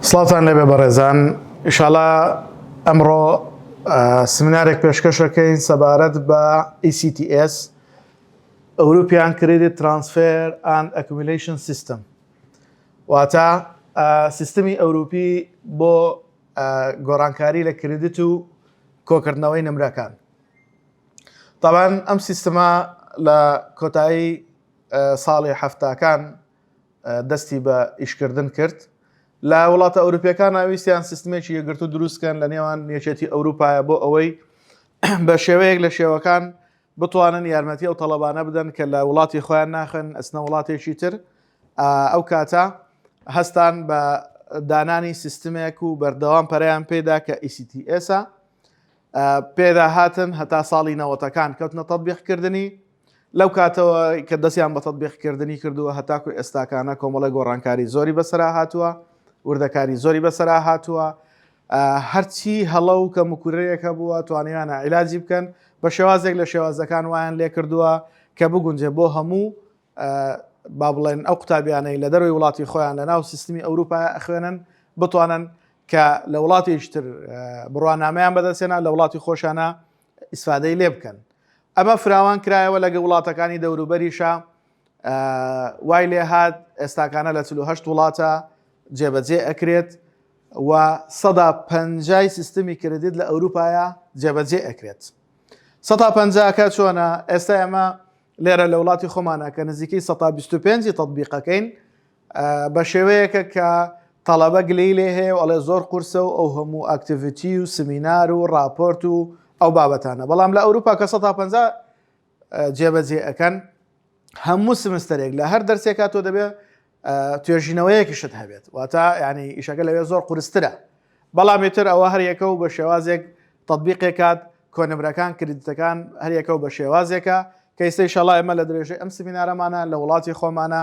سڵاتان لەبێ بەڕێزان ئیشاڵا ئەمڕۆ سمینارێک پێشکەشەکەین سەبارەت بە ECTS ئەوروپیان کریدی ترانسفێر ئان ئەکومیلیشن سیستم واتە سیستمی ئەوروپی بۆ گۆڕانکاری لە کریدیت و کۆکردنەوەی نمرەکان تاوان ئەم سیستما لە کۆتایی ساڵی حەفتاکان دەستی بە ئیشکردن کرد لە وڵاتە ئەوروپیەکان ناویستیان سیستمێکی یەگرتو دروستکەن لە نێوان یەکێتی ئەوروپایە بۆ ئەوەی بە شێوەیەک لە شێوەکان بتوانن یارمەتی ئەو تەڵەبانە بدەن کە لە وڵاتی خۆیان ناخن ئەسنە وڵاتێکی تر ئەو کاتە هەستان بە دانانی سیستمێک و بەردەوام پەریان پێدا کە ئیسیTSە پێدا هاتن هەتا ساڵی نەوەتەکان کەوتنە تەبیقکردنی لەو کاتەوە کە دەستیان بە تەتبیقکردنی کردووە هەتاکو ئێستاکانە کۆمەڵی گۆڕانکاری زۆری بەسرا هاتووە وردەکاری زۆری بەسرا هاتووە هەرچی هەڵە و کە مکورەیەکە بووە توانیانە عیلاجی بکەن بە شێوازێک لە شێوازەکان وایان لێ کردووە کە بگونجێ بۆ هەموو با بڵێن ئەو قوتابیانەی لە دەروی وڵاتی خۆیان لە ناو سیستمی ئەوروپا ئەخوێنن بتوانن کە لە وڵاتیشتر بڕوانامەیان بەدەستێنە لە وڵاتی خۆشانە ئیسفادەی لێ بکەن ئەمە فراوان کرایەوە لەگە وڵاتەکانی دەوروبەریشە وای لێ هاات ئێستاکانە لە 48 وڵاتە جێبەجێ ئەکرێت و سەدا پەنجای سیستمی کردیت لە ئەوروپایە جێبەجێ ئەکرێت سەدا پەنجاکە چۆنە ئێستا ئەمە لێرە لە وڵاتی خۆمانە کە نزیکەی 125 تطببیقەکەین بە شێوەیەکە کە تەڵەبە گلەی لێ هەیە و ئەڵێ زۆر قورسە و ئەو هەموو ئاکتیڤیتی و سمینار و ڕاپۆرت و ئەو بابەتانە بەڵام لە ئەوروپا کە 150 جێبەجێ ئەەکەن هەموو سمستەرێک لە هەر دەرسێکا تۆ دەبێت توێژینەوەیەکیشت هەبێت واتە ینی ئیشەکە لەوێ زۆر قورسترە بەڵامی تر ئەوە هەریەکە و بە شێوازێک تطببیقێ کات کۆنمرەکان کردتەکان هەریەکە و بە شێوازێکە کەیسەی شەڵای ئەمە لە درێژەی ئەم سمینارەمانە لە وڵاتی خۆمانە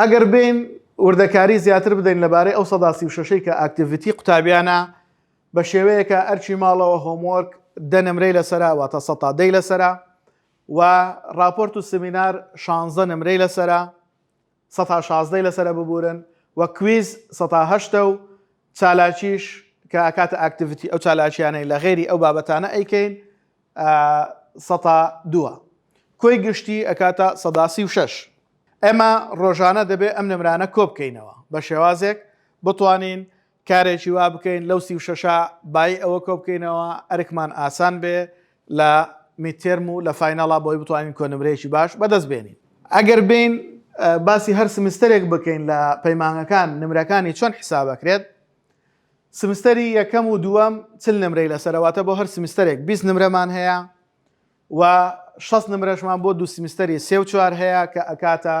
ئەگەر بین وردەکاری زیاتر بدەین لەبارەی ئەو سەدا سی و شەشەی کە ئاکتیڤیتی قوتابیانە بە شێوەیەکە ئەرچی ماڵەوە هۆمۆرک دە نمرەی لەسرە واتە سە تا دەی لەسرە و راپۆرت و سمینار شانزە نمرەی لەسرە سەتا شازدەی لەسەرە ببورن وە کویز سەتا هەشتە و چالاکیش کە ئەکاتە ئاکتیڤیتی ئەو چالاکیانەی لە غەیری ئەو بابەتانە ئەیکەین سەتا دووە کۆی گشتی ئەکاتە سەدا سی و شەش ئێمە ڕۆژانە دەبێ ئەم نمرانە کۆبکەینەوە بە شێوازێک بتوانین کارێکی وا بکەین لەو سی و شەشە بایی ئەوە کۆ بکەینەوە ئەرکمان ئاسان بێ لە میدتێرم و لە فاینەڵا بۆی بتوانین کۆ نمرەیەکی باش بەدەست بێنین. ئەگەر بێین باسی هەر سمستەرێک بکەین لە پەیمانگەکان نمرەکانی چۆن حیساب ئەکرێت؟ سمستەری یەکەم و دووەم چل نمرەی لەسەرە واتە بۆ هەر سمستەرێک بیست نمرەمان هەیە و شەست نمرەشمان بۆ دوو سیمستەری سێ و چوار هەیە کە ئەکاتە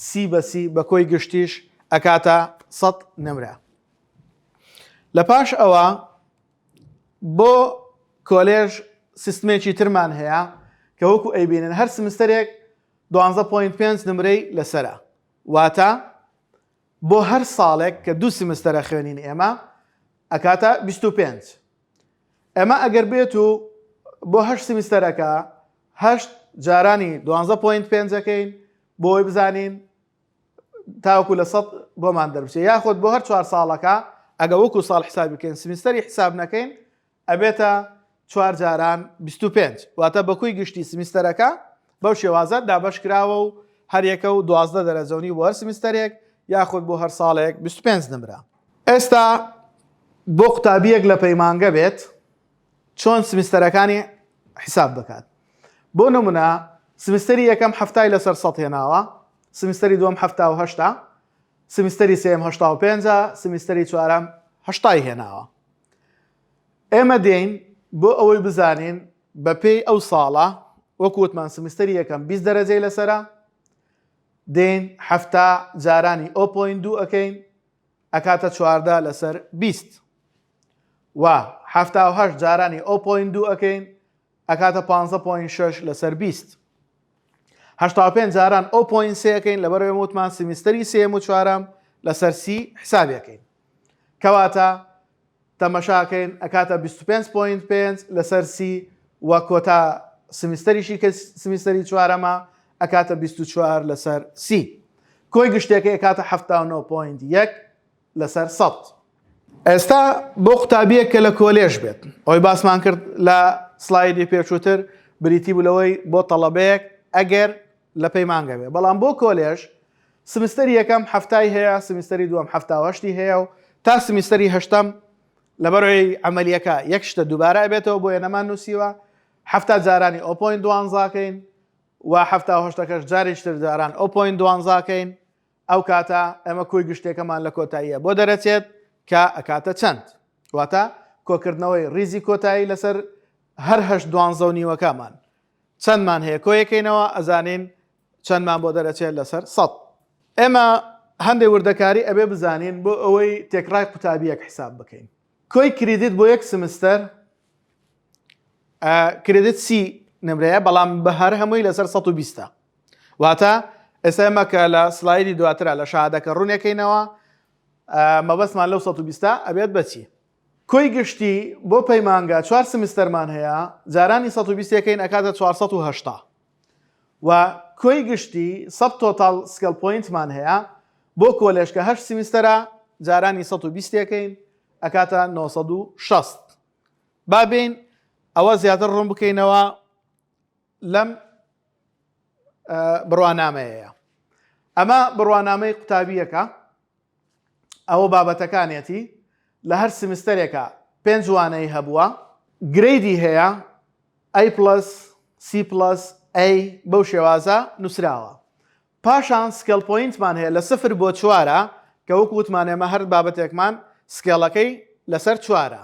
سی بە سی بە کۆی گشتیش ئەکاتە سەد نمرە لە پاش ئەوە بۆ کۆلێژ سیستمێکی ترمان هەیە کە وەکو ئەیبینن هەر سمستەرێک 12.5 نمرەی لەسرە واتە بۆ هەر ساڵێک کە دوو سمستەرە خوێنین ئێمە ئەکاتە 25 ئەمە ئەگەر بێت و بۆ هەشت سیمیستەرەکە هەشت جارانی دوانزە پوینت پێنجەکەین بۆی بزانین تاوکو لە سەد بۆمان دەربچێت یاخود بۆ هەر چوار ساڵەکە ئەگە وەکو ساڵ حساب بکەین سمیستەری حساب نەکەین ئەبێتە چوار جاران 25 واتە بەکوی گشتی سمیستەرەکە بەو شێوازە دابش کراوە و هەریەکە و دوازدە دەرەجەونی بۆ هەر سمیستەرێک یاخود بۆ هەر ساڵێک 25 نمرە ئێستا بۆ قوتابیەک لە پەیمانگە بێت چۆن سمیستەرەکانی حیساب دەکات بۆ نمونە سمیستەری یەکەم هەفتای لەسەر سەد هێناوە سمیستەری دووەم هەفتا و هەشتا سمیستەری سێم هەشتا و پێنج سمیستەری چوارەم هەشتای هێناوە ئێمە دێین بۆ ئەوەی بزانین بەپێی ئەو ساڵە وەکووتمان سمیستەری یەکەم بیست دەرەجەی لەسرە دێین حەفتا جارانی ئۆ پۆینت دوو ئەکەین ئەکاتە چواردە لەسەر بیست و حەفتا و هەشت جارانی ئۆ پۆینت دوو ئەکەین ئەکاتە پانزە پۆینت شەش لەسەر بیست هەشتا و پێنج جاران ئۆ پۆینت سێ ئەکەین لەبەرەوەی وتمان سیمیستەری سێم و چوارەم لەسەر سی حسابی ئەکەین کەواتە تەمەشاکەین ئەکاتە بیست و پێنج پۆینت پێنج لەسەر سی و کۆتا سمیستەریشی کە سمیستەری چوارەمە ئەکاتە بیست و چوار لەسەر سی کۆی گشتەکەی ئەکاتە حەفتا و نۆ پۆینت یەک لەسەر سەد ئێستا بۆ قوتابیەک کە لە کۆلێژ بێت ئەوی باسمان کرد لە سلایدی پێچووتر بریتی بوو لەوەی بۆ تەڵەبەیەک ئەگەر لە پەیمانگە بێ بەڵام بۆ کۆلێژ سمستەری یەکەم حەفتای هەیە سمستەری دووەم حەفتا و هەشتی هەیە و تا سمستەری هەشتەم لەبەرەوەی عملیەکە یەک شتە دووبارە بێتەوە بۆیە نەمان نووسیوە حەفتا جارانی ئۆپۆین دوانزاکەین و حەفتا هەشتەکەش جاریشتر جاران ئۆپۆین دوانزاکەین ئەو کاتە ئەمە کۆی گشتێکەمان لە کۆتاییە بۆ دەرەچێت کە ئەکاتە چەند واتە کۆکردنەوەی ریزی کۆتایی لەسەر هەرهشت دوانزە و نیوەکەمان چەندمان هەیە کۆیەکەینەوە ئەزانین چەندمان بۆ دەرەچێت لەسەر سەد ئێمە هەندێک وردەکاری ئەبێ بزانین بۆ ئەوەی تێکڕای قوتابیەک حساب بکەین کۆی کریدیت بۆ یەک سمستەر کریدیت سی نمرەیە بەڵام بە هەر هەمووی لەسەر 120 واتە ئێستا مەکە لە سلایدی دواترا لە شادەکە ڕوونەکەینەوە مەبەستمان لەو 120 ئەبێت بەچی کۆی گشتی بۆ پەیمانگا چوار سمستەرمان هەیە جارانی سەد و بیست یەکەین ئەکاتە چوار سەد و هەشتا وە کۆی گشتی سەد تۆتاڵ سکێڵ پۆینتمان هەیە بۆ کۆلێژ کە هەشت سمستەرە جارانی سەد و بیست یەکەین ئەکاتە نۆ سەد و شەست با بێین ئەوە زیاتر ڕوون بکەینەوە لەم بڕوانامەیەیە ئەمە بڕوانامەی قوتابییەکە ئەوە بابەتەکانیەتی لە هەر سیمستەرێکا پێنج وانەی هەبووە. گرەیدی هەیە A پڵەس، C پڵەس، A بەو شێوازە نووسراوە. پاشان سکێڵ پۆینتمان هەیە لە سفر بۆ چوارە کە وەکو وتمان ئێمە هەر بابەتێکمان سکێڵەکەی لەسەر چوارە.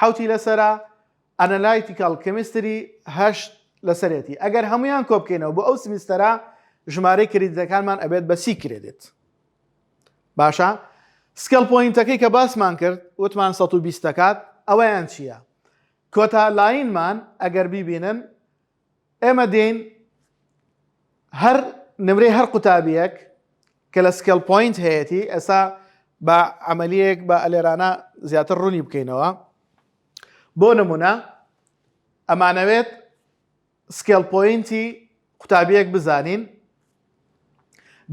حەوتی لەسەرە ئەنەلایتیکەڵ کێمیستری هەشت لەسەرێتی ئەگەر هەمویان کۆبکەینەوە بۆ ئەو سمیستەرە ژمارەی کردەکانمان ئەبێت بە سی کرێدێت باشە سکەڵ پۆینتەکەی کە باسمان کرد وتمان 120 دەکات ئەوەیان چییە کۆتا لاینمان ئەگەر بیبینن ئێمە دێین هەر نمرەی هەر قوتابیەک کە لە سکێل پوینت هەیەی ئێستا بە عملیەک بە ئەلێرانە زیاتر ڕوونی بکەینەوە بۆ نمونە ئەمانەوێت سکێل پوینتی قوتابیەک بزانین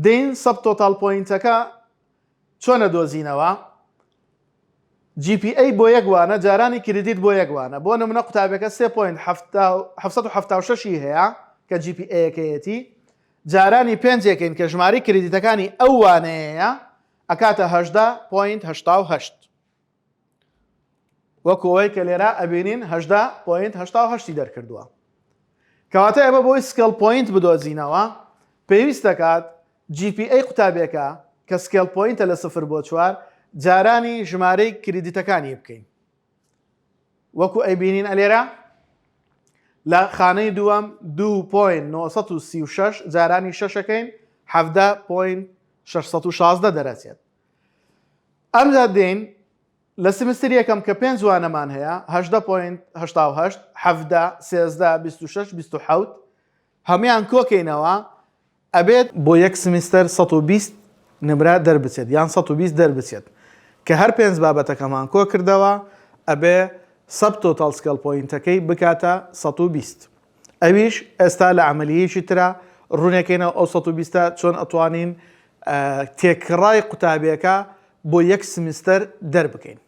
دین سەب تۆتال پوینتەکە چۆنە دۆزینەوە جی پی ئەی بۆ یەک وانە جارانی کریدیت بۆ یەک وانە بۆ نمونە قوتابیەکە سێ پۆینت حەفتا و حەفت سەد و حەفتا و شەش ی هەیە کە جی پی ئەیەکەیەتی جارانی پێنج یەکەین کە ژماری کریدیتەکانی ئەو وانەیەیە ئەکاتە هەژدە پۆینت هەشتا و هەشت. وەکو ئەوەی کە لێرە ئەبینین هەژدە پۆینت هەشتا و هەشتی دەرکردووە کەواتە ئێمە بۆی سکێڵ پۆینت بدۆزینەوە پێویست دەکات GPA قوتابیەکە کە سکێڵ پۆینتە لە سفر بۆ چوار جارانی ژمارەی کریدیتەکانی بکەین وەکو ئەیبینین ئەلێرە لە خانەی دووەم 2.936 جارانی شەشەکەین 17.616 دەرەچێت ئەمجا دێین لە سمستر یەکەم کە پێنج وانەمان هەیە هەژدە پۆینت هەشتا و هەشت حەڤدە سێزدە بیست و شەش بیست و حەوت هەموان کۆکەینەوە ئەبێت بۆ یەک سمستر سەد و بیست نمرە دەربچێت یان سەد و بیست دەربچێت کە هەر پێنج بابەتەکەمان کۆکردەوە ئەبێ سەب تۆتاڵ سکێڵ پۆینتەکەی بکاتە سەد و بیست ئەویش ئێستا لە عەمەلییەکی ترا، ڕوونەکەی ناو ئەو سەد و بیستە چۆن ئەتوانین تێکڕای قوتابیەکە بۆ یەک سمیستەر دەربکەین.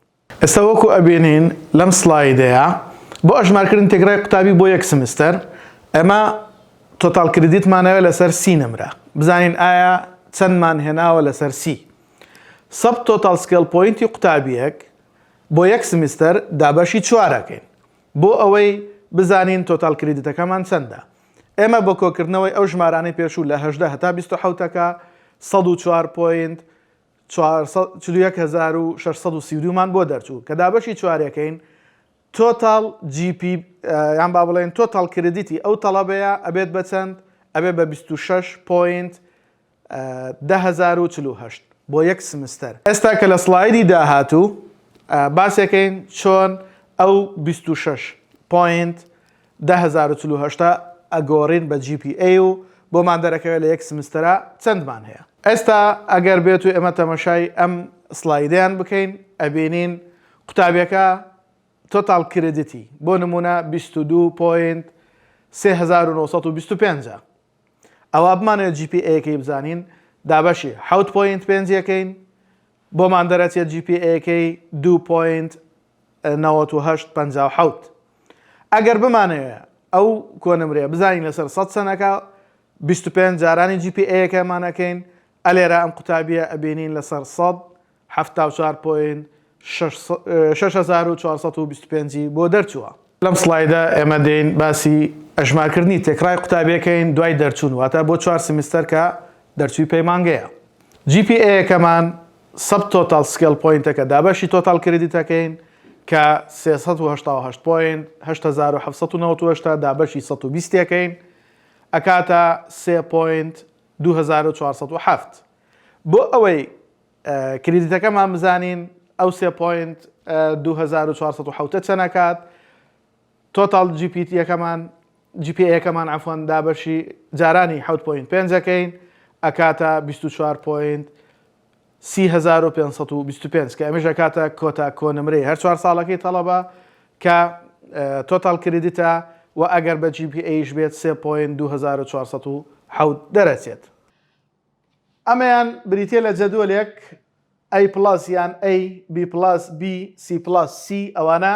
ئێستا وەکو ئەبینین لەم سڵایدەیا بۆ ئەژمارکردن تێکڕای قوتابی بۆ یەک سمیستەر ئێمە تۆتاڵ کریدیتمان ئەوێ لەسەر سی نمرە بزانین ئایا چەندمان هێناوە لەسەر سی سەد تۆتاڵ سکێڵ پۆینتی قوتابیەک بۆ یەک سمیستەر دابەشی چوار ئەکەین. بۆ ئەوەی بزانین تۆتاڵ کریدتەکەمان چەندە ئێمە بۆ کۆکردنەوەی ئەو ژمارانەی پێشوو لە هەژدە هەتا بیست و حەوتەکە سەد و چوار پۆینت چوار سەد چل و یەک هەزار و شەش سەد و سی و دوو مان بۆ دەرچوو کە دابەشی چوارەکەین تۆتاڵ جی پی یان با بڵێن تۆتاڵ کریدیتی ئەو تەڵەبەیە ئەبێت بە چەند ئەبێت بە بیست و شەش پۆینت دە هەزار و چل و هەشت بۆ یەک سمستەر. ئێستا کە لە سڵایدی داهاتوو باسێکەین چۆن ئەو بیست و شەش پۆینت دە هەزار و چل و هەشت ە ئەگۆرین بە جی پی ئەی و بۆمان دەرەکەوێت لە یەک سمستەرا چەندمان هەیە. ئێستا ئەگەر بێتو ئێمە تەمەشای ئەم سڵایدەیان بکەین ئەبینین قوتابیەکە تۆتاڵ کریدتی بۆ نمونە بیست و دوو پۆینت سێ هەزار و نۆ سەد و بیست و پێنج ە ئەوا بمانەوێت جی پی ئەیەکەی بزانین دابەشی حەوت پۆینت پێنج یەکەین بۆمان دەرەچێت جی پی ئەیەکەی دوو پۆینت نەوەت و هەشت پەنجا و حەوت ئەگەر بمانەوێت ئەو کۆنمرەیە بزانین لەسەر سەد سەنەکە بیست و پێنج جارانی جی پی ئەیەکەمانەکەین ئەلێرە ئەم قوتابیە ئەبینین لەسەر سەد حەفتا و چوار پۆینت شەش هەزار و چوار سەد و بیست و پێنج ی بۆ دەرچووە. لەم سڵایدە ئێمە دێین باسی ئەژمارکردنی تێکڕای قوتابیەکەین دوای دەرچوون واتە بۆ چوار سیمیستەر کە دەرچووی پەیمانگەیە جی پی ئێ یەکەمان سەب تۆتاڵ سکێڵ پۆینتەکە دابەشی تۆتاڵ کریدیتەکەین کە سێ سەد و هەشتا و هەشت پۆینت هەشت هەزار و حەفت سەد و نەوەد و هەشت دابەشی سەد و بیست یەکەین ئەکاتە سێ پۆینت دوو هەزار و چوار سەد و حەفت بۆ ئەوەی کریدیتەکەمان بزانین ئەو سێ پۆینت دوو هەزار و چوار سەد و حەوتە چەن ئەکات تۆتاڵ جی پی تیەکەمان جی پی ئەکەمان عەفوەن دابەشی جارانی حەوت پۆینت پێنج ئەکەین ئەکاتە بیست و چوار پۆینت سی هەزار و پێنج سەد و بیست و پێنج کە ئەمەش ئەکاتە کۆتا کۆنمرەی هەر چوار ساڵەکەی تەڵەبە کە تۆتاڵ کریدیتە و ئەگەر بە جی پی ئەیش بێت سێ پۆینت دوو هەزار و چوار سەد و حەوت دەرەچێت ئەمەیان بریتیە لە جەدۆلێک A پڵەس یان A، B پڵەس B، C پڵەس C ئەوانە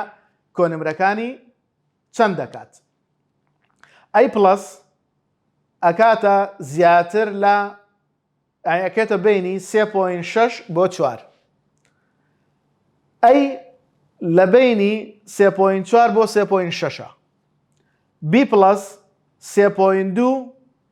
کۆنمرەکانی چەند دەکات؟ A پڵەس ئەکاتە زیاتر لە ئەکێتە بینی 3.6 بۆ 4 ئەی لە بینی 3.4 بۆ 3.6 بی پلس 3.2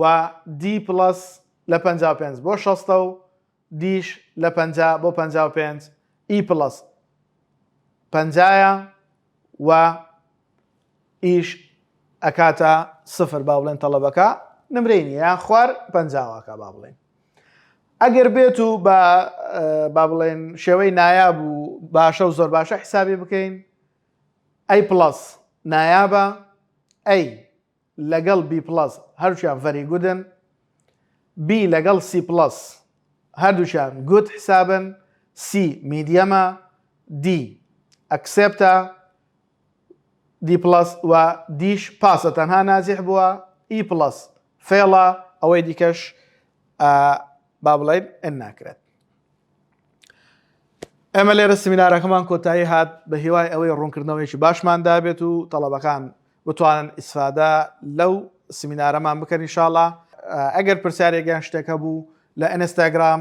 و دی پڵەس لە پەنجا و پێنج بۆ شەستە و دیش لە پەنجا بۆ پەنجا و پێنج ئی پڵەس پەنجایە و ئیش ئەکاتە سفر با بڵێن تەڵەبەکە نمرەی نیە یان خوار پەنجاواکە با بڵێن ئەگەر بێت و بە با بڵێن شێوەی نایاب و باشە و زۆر باشە حیسابی بکەین ئەی پڵس نایابە ئەی لەگەڵ بی پڵەس هەردووکیان ڤەری گودن بی لەگەڵ سی پڵەس هەردووکیان گود حسابن سی میدیەمە دی ئەکسێپتە دی پڵەس و دیش پاسە تەنها ناجیح بووە ئی پڵەس فێڵە ئەوەی دیکەش با بڵێین ئەن ناکرێت ئێمە لێرە سمینارەکەمان کۆتایی هات بە هیوای ئەوەی ڕوونکردنەوەیکی باشمان دابێت و تەڵەبەکان بتوانن ئیسفادە لەو سمینارەمان بکەن انشاءاللە ئەگەر پرسیارێک یان شتێک هەبوو لە ئینستاگرام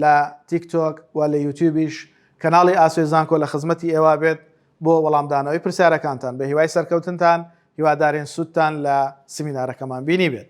لە تیک تۆک و لە یوتیوبیش کەناڵی ئاسۆی زانکۆ لە خزمەتی ئێوە بێت بۆ وەڵامدانەوەی پرسیارەکانتان بە هیوای سەرکەوتنتان هیوادارین سوودتان لە سمینارەکەمان بینی بێت